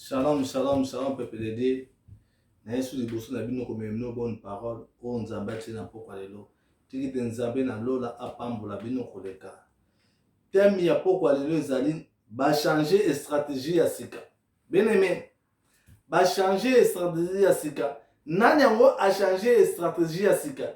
Shalom, shalom, shalom, peuple de Dieu. Na yesu liboso na bino komema bino bonne parole oyo nzambe atie na mpokwa lelo tiki te nzambe na lola apambola bino koleka teme ya mpokwa lelo ezali bachange stratégie ya sika beneme bachange stratégie ya sika nani yango achange stratégie ya sika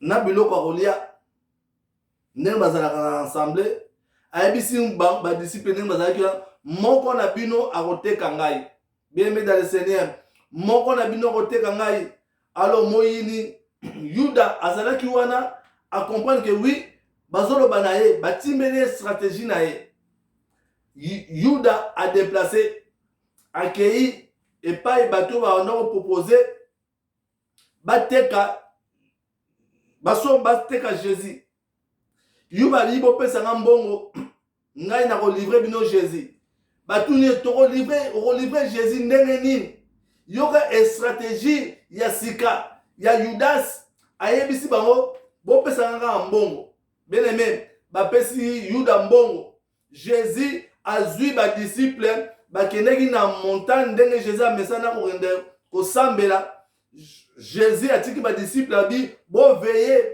na biloko ya kolia ndenge bazalaka na ensemble ayebisi badisiple ndenge bazalaki wana moko na bino akoteka ngai biyembe dans le seigneur moko na bino akoteka ngai alo moyini yuda azalaki wana acomprendre ke wi bazoloba na ye batimbeli ye stratégie na ye yuda adeplace akei epai bato oyo baanda kopropose bateka baso bateka jésus yo balingi bopesa nga mbongo ngai nakolivre bino jésus batuni tokolivre okolivre jésus ndenge nini yoka estratégie ya sika ya yudas ayebisi bango bopesaka kaka mbongo bien aime bapesi yuda mbongo jesus azwi badisiple bakendeki na montagne ndenge jesus amesana kokende kosambela jesus atiki badisiple abi boveye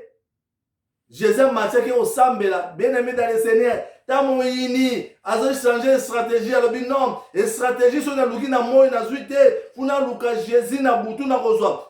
jesus amatiaki kosambela bien aime dans le seigneur ta moyini azochange stratégie alobi non stratégie soki naluki na moi nazwi te kuna luka jésus na butu nakozwa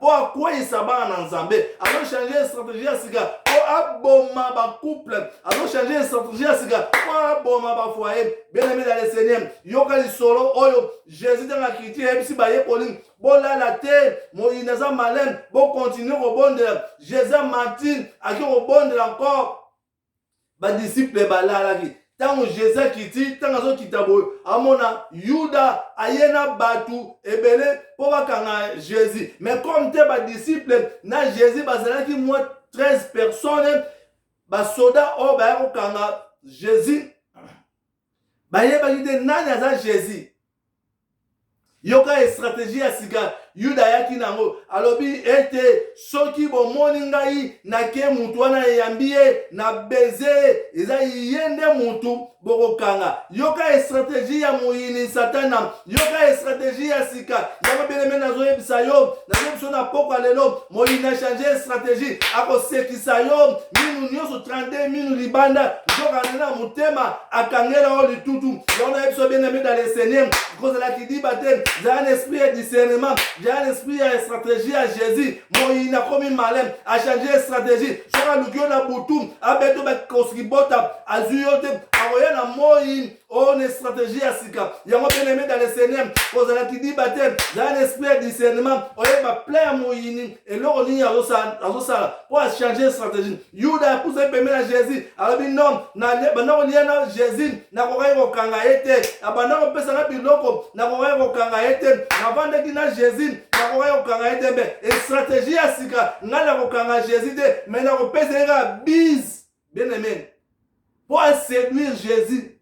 mpo akweyisa bana na nzambe azochange strategie ya sika mpo aboma bacouple azochange strategie ya sika mpo aboma bafoye benameli ya le seigneur yoka lisolo oyo jésus ntango akiti eyebisi bayekoli bolala te moyini aza malene bokontinue kobondela jésus martin ake kobondela encore badisiple balalaki ntango jesus akiti ntango azokita boye amona yuda aye na bato ebele mpo bakanga jesus mais comme te badisiple na jesus bazalaki mwa 13 personnes basoda oyo baya kokanga jesus bayebaki te nani aza jesus yoka estrateji ya sika yuda ayaki na yango alobi ete soki bomoni ngai nake motu wana eyambi ye na beze eza ye nde motu bokokanga yoka estrateji ya moyini satana yoka estrateji ya sika yango beleme nazoyebisa yo nazoyebiso na pokwa lelo moyini achange estrateji akosekisa yo minu nyonso 32 minu libanda nzokande na motema akangela yo litutu yango na yebiso bien aimé dans le seigneur kozala kidiba te zala na esprit ya discernement zala na esprit ya stratégie ya jésus moyi nakomi malin achange stratégie soki aluki yo na butu abeto bakosikibota azwi yo te akoya na moyi oyo oh, na stratégie ya sika yango bien aimé dans le seigneur kozala kidiba te zala na esprit ya discernement oyeba plein ya moyini eloko nini azosala mpo achange stratégie yuda apusaki pembeni ya jésus alobi no banda kolia na jésus nakokaki kokanga ye te abanda kopesa na biloko nakokaki kokanga ye te navandaki na jésus nakokaki kokanga ye te mpe estratégie ya sika ngai nakokanga jésus te mai nakopesa ye kaka bise bien aimé mpo aséduire jésus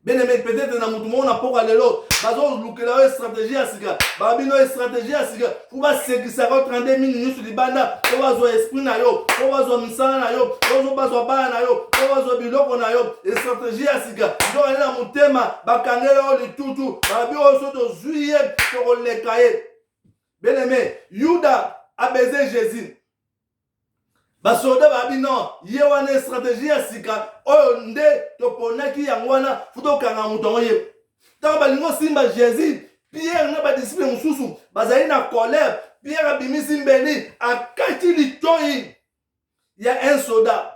beneme peut-être na motu moko na mpoka lelo bazolukela yo estratégie ya sika babino estratégie ya sika po basekisaka yo 32 mingi nyonso libanda po bazwa esprit na yo po bazwa misala na yo po bazwa bana na yo po bazwa biloko na yo estratégie ya sika nzokande na motema bakangela yo litutu babi oyo so tozwi ye tokoleka ye beneme yuda abeze jésus basoda babi non ye wana estrategie ya sika oyo nde toponaki yango wana fo tokanga moto yango ye ntango balingi osimba jésus pierre na badisiple mosusu bazali na colère pierre abimisi mbeli akati litoi ya un soda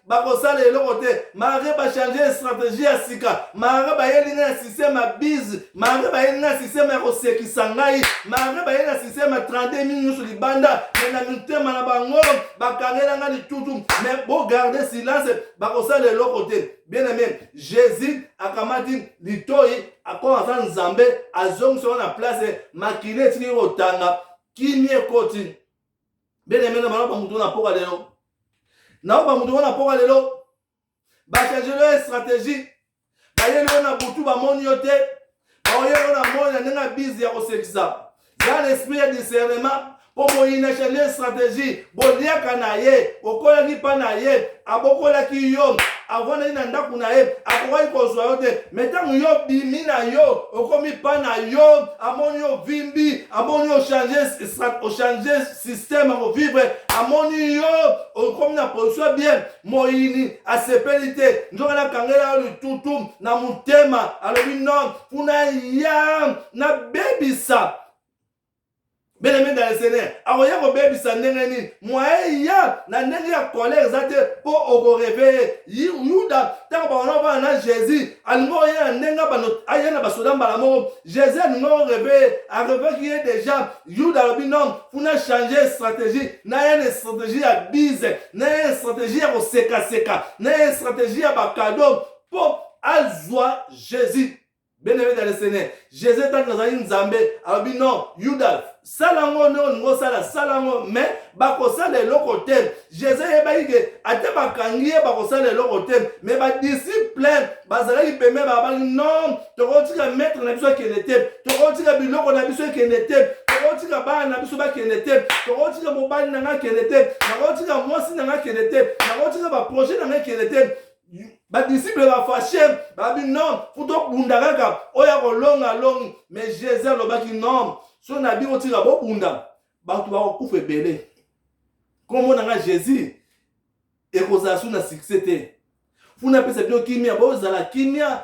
bakosala eloko te malgre bachange stratégie ya sika malgre bayeli ngai na système ya bise malgre bayeli ngai na système ya kosekisa ngai malgre bayeli na système ya 32 mingi nyonso libanda me na mitema na bango bakangela ngai litutu me bogarde silence bakosala eloko te bien aime jésus akamati litoi akoma aza nzambe azongisa ngo na place makili etiki kotanga kimia ekoti bene mena bana ba mutu na poka lelo na ba mutu na poka lelo ba changer leur stratégie ba yelo na butu ba moni yo te ba yelo na moni na ndenge bizi ya kosekisa za l'esprit ya discernement mpo boyina changer stratégie boliaka na ye okolaki mpa na ye abokolaki yo avandaki na ndako na ye akokaki kozwa yo te me ntango yo bimi na yo okomi pa na yo amoni yo vimbi amoni ochange systeme akovivre amoni yo okomi na position bien moyini asepeli te nzoka nakangela yo litutu na motema alobi non kuna ya nabebisa Bien-aimé dans le Seigneur, akoya kobebisa ndenge nini? Mwaye ya na ndenge ya kolere eza te mpo okoreveye. Yuda ntango bakona kobana na Jésus, alingi oye na ndenge bano aye na basoda mbala moko. Jésus alingi oreveye, areveki ye deja. Yuda alobi non, kuna change stratégie, naye na stratégie ya bize, naye na stratégie ya kosekaseka, naye na stratégie ya bakado mpo azwa Jésus. bien aimé dans le seigneur jésus ntango azali nzambe alobi non yuda sala yango nde olingi osala sala yango mais bakosala eloko te jésus ayebaki ke ata bakangi ye bakosala eloko te mais badisiple bazalaki pembe babaki non tokotika maître na biso akende te tokotika biloko na biso ekende te tokotika bana na biso bakende te tokotika mobali na ngai akende te nakotika mwasi na ngai akende te nakotika baprojet na ngai ekende te badisiple bafashe babi non fo tobunda kaka oyo akolonga alongi me jesus alobaki non so na bino tika bobunda bato bakokufa ebele nkombo na ngai jesus ekozala su na succès te funa apesa bino kimia bozala kimia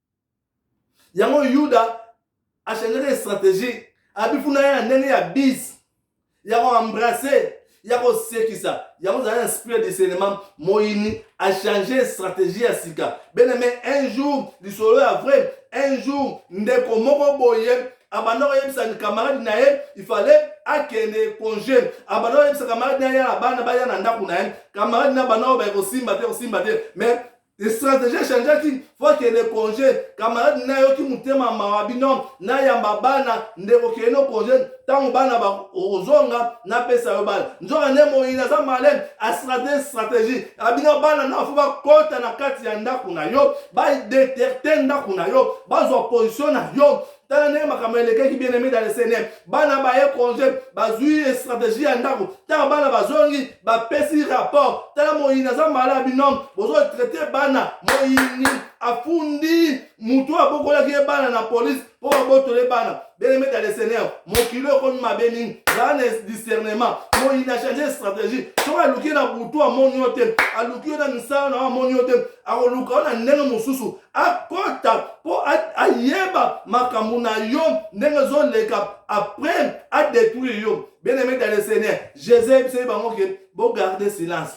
yango yuda achangeaki stratégie abifuna ye na ndenge ya bise ya koembrase ya kosekisa yango ozali na esprit ya discernement moyini achange stratégie ya sika beneme un jour lisolo ya vrai un jour ndeko moko boye abanda koyebisa kamarade na ye ifale akende congé abanda koyebisa kamarade na ye ya bana baya na ndako na ye kamarade na bana oyo baye kosimba te kosimba te mais stratégie echangeaki fo akende congé camarade na yoki motema mawa bino nayamba bana ndeko kende no congé ntango bana bakozonga napesa yo bana nzoka nde moyini aza malene astrate stratégie abino bana na fo bakota na kati ya ndako na yo badeterte ndako na yo bazwa position na yo tala ndenge makambo elekaki bien aimé dans le seigneur bana baye congé bazwi stratégie ya ndako ntango bana bazongi bapesi rapport tala moyini aza mala bino bozotraite bana moyini afundi motu abokolaki ye bana na polise mpo babotole bana bien aimé dans le seigneur mokili oyo ekomi mabe mingi zala na discernement moyini achange stratégie soki aluki ye na butu amoni yo te aluki yo na misala na yo amoni yo te akoluka yo na ndenge mosusu akota mpo ayeba makambo na yo ndenge ezoleka après adétruire yo bien aimé dans le seigneur jésus ayebisaki bango ke bogarde silence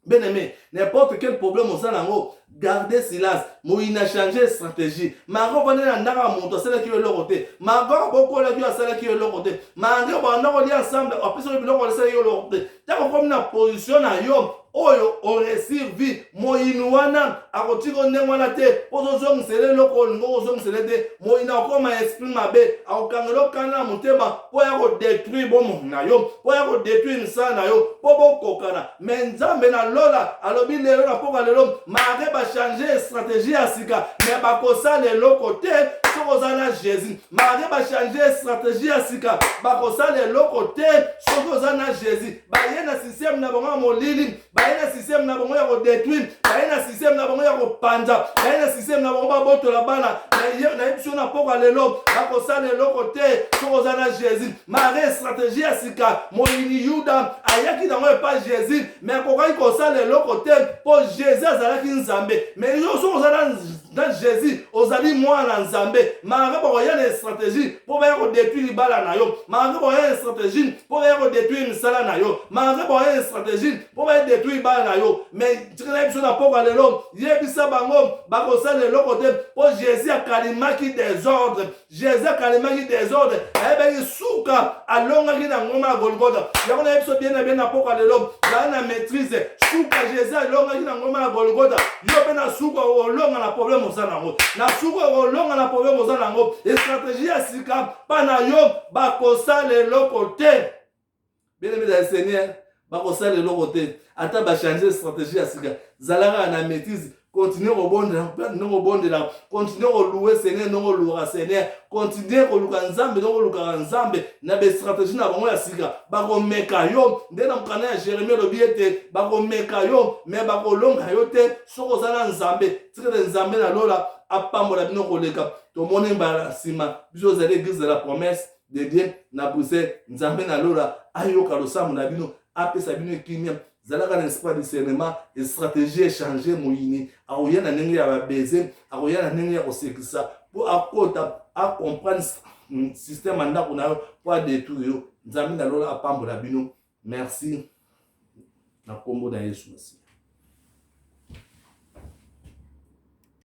bien aimé n'importe quel problème oza na yango garde silence moyi na change stratégie mako vandi na ndako ya moto asalaki yo eloko te mako abokolaki yo asalaki yo eloko te mange banda kolia ensemble apesaki biloko asalaki yo eloko te ntango okomi na position na yo oyo oresir vie moyini wana akotika ndenge wana te ozozongisela eloko olingi okozongisela te moyini akokoma esprit mabe akokangela okana na motema mpo ya kodetruire bomoi na yo mpo ya kodetruire misala na yo mpo bokokana me nzambe na lola alobi lelo na mpoka lelo mare bachange strategie ya sika me bakosala eloko te soki oza na jésus malgre bachange stratégie ya sika bakosala eloko te soki oza na jésus baye na systeme na bango ya molili baye na systeme na bango ya kodetruire baye na systeme na bango ya kopanza baye na systeme na bango babotola bana nayebiso na mpoka lelo bakosala eloko te soki oza na jésus malgre stratégie ya sika moyini yuda ayaki nango epa jésus me akokaki kosala eloko te mpo jésus azalaki nzambe me yo soki oza na na jésus ozali mwana nzambe malgre bakoya na estratégie mpo baya kodetruire libala na yo malgre bakoya na estratégie mpo baya kodetruire misala na yo malgre bakoya na estratégie mpo baya detruire bana na yo mais tikala biso na pokwa lelo yebisa bango bakosala eloko te mpo jésus akalimaki desordre jesus akalemaki desordre ayebaki suka alongaki na ngoma ya golgota yango nayebi biso bien na bien na mpoka lelo zala na maîtrise suka jesus alongaki na ngoma ya golgota yo mpe na suka olonga na problème oza nango na suka olonga na problème oza nango estratégie ya sika mpa na yo bakosala eloko te bene bene ya seigneur bakosala eloko te ata bachange stratégie ya sika zalaka na maîtrise continue kobondela continue kobondela continue koluwe seigneur ndenge oluwaka seigneur continue koluka nzambe ndenge olukaka nzambe na bastratégie na bango ya sika bakomeka yo nde na mokanda ya jérémi olobi ete bakomeka yo me bakolonga yo te soki oza na nzambe tikete nzambe na lola apambola bino koleka tomoni mbala nsima biso ozali eglise de la promesse de bien na bruxelles nzambe na lola ayoka losambo na bino apesa bino kimia zalaka na esprit ya discernement estratégie echange moyini akoya na ndenge ya babeze akoya na ndenge ya kosekisa mpo akota acomprendre hmm, système ya ndako na yo mpo adetruire yo nzambe na lola apambola bino merci na nkombo na yesu masiya